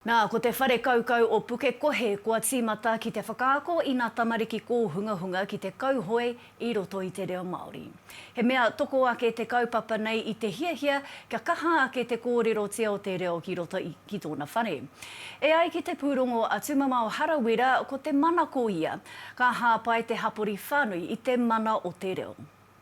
Nā, ko te whare kaukau o Pukekohe kua tīmata ki te whakaako i ngā tamariki kōhungahunga ki te kauhoe i roto i te reo Māori. He mea toko ake te kaupapa nei i te hiahia kia kaha ake te kōrerotia o te reo ki roto i ki tōna whare. E ai ki te pūrongo a Tūmamao Harawira ko te manako ia, ka hāpai te hapori whānui i te mana o te reo.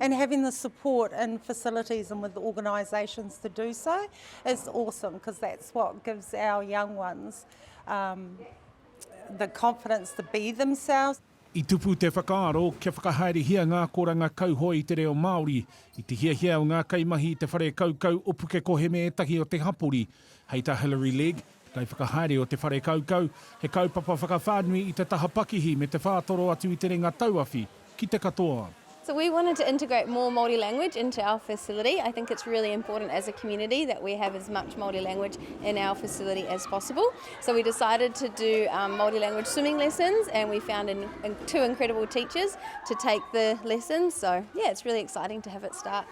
and having the support and facilities and with organisations to do so is awesome because that's what gives our young ones um, the confidence to be themselves. I tupu te whakaaro kia whakahaerehia ngā akoranga kauhoe i te reo Māori, i te hiahia o ngā kaimahi i te whare kaukau o Pukekohe me ētahi o te hapori, hei tā Hilary Legg, Kaiwhakahaere o te whare kaukau, he kaupapa whakawhānui i te taha pakihi me te whātoro atu i te renga tauawhi ki te katoa. So we wanted to integrate more Māori language into our facility. I think it's really important as a community that we have as much Māori language in our facility as possible. So we decided to do um, Māori language swimming lessons and we found in, in two incredible teachers to take the lessons. So yeah, it's really exciting to have it start.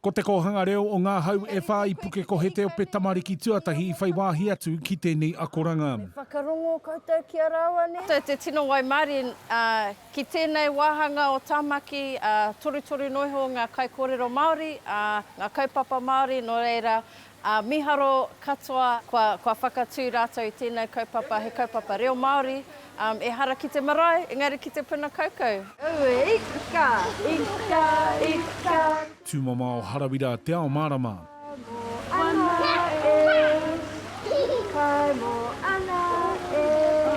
Ko Te Kōhanga Reo o Ngā Hau e Whā i Pukeko he te ope tamariki tuatahi i whai wāhi atu ki tēnei akoranga. Me whakarongo koutou ki a rāua, nē? Koutou te tino waimarie ki tēnei wāhanga o Tāmaki, torutoru noa iho ngā kaikōrero Māori, ngā kaupapa Māori, nō reira, Ā, mīharo katoa, kua, kua whakatū rātou i tēnei kaupapa, he kaupapa reo Māori, ā, ehara ki te marae, engari ki te puna kaukau. Aue, ika, ika, ika. Tūmamao Harawira Te Ao Mārama. Kai mō ana e, kai mō ana e.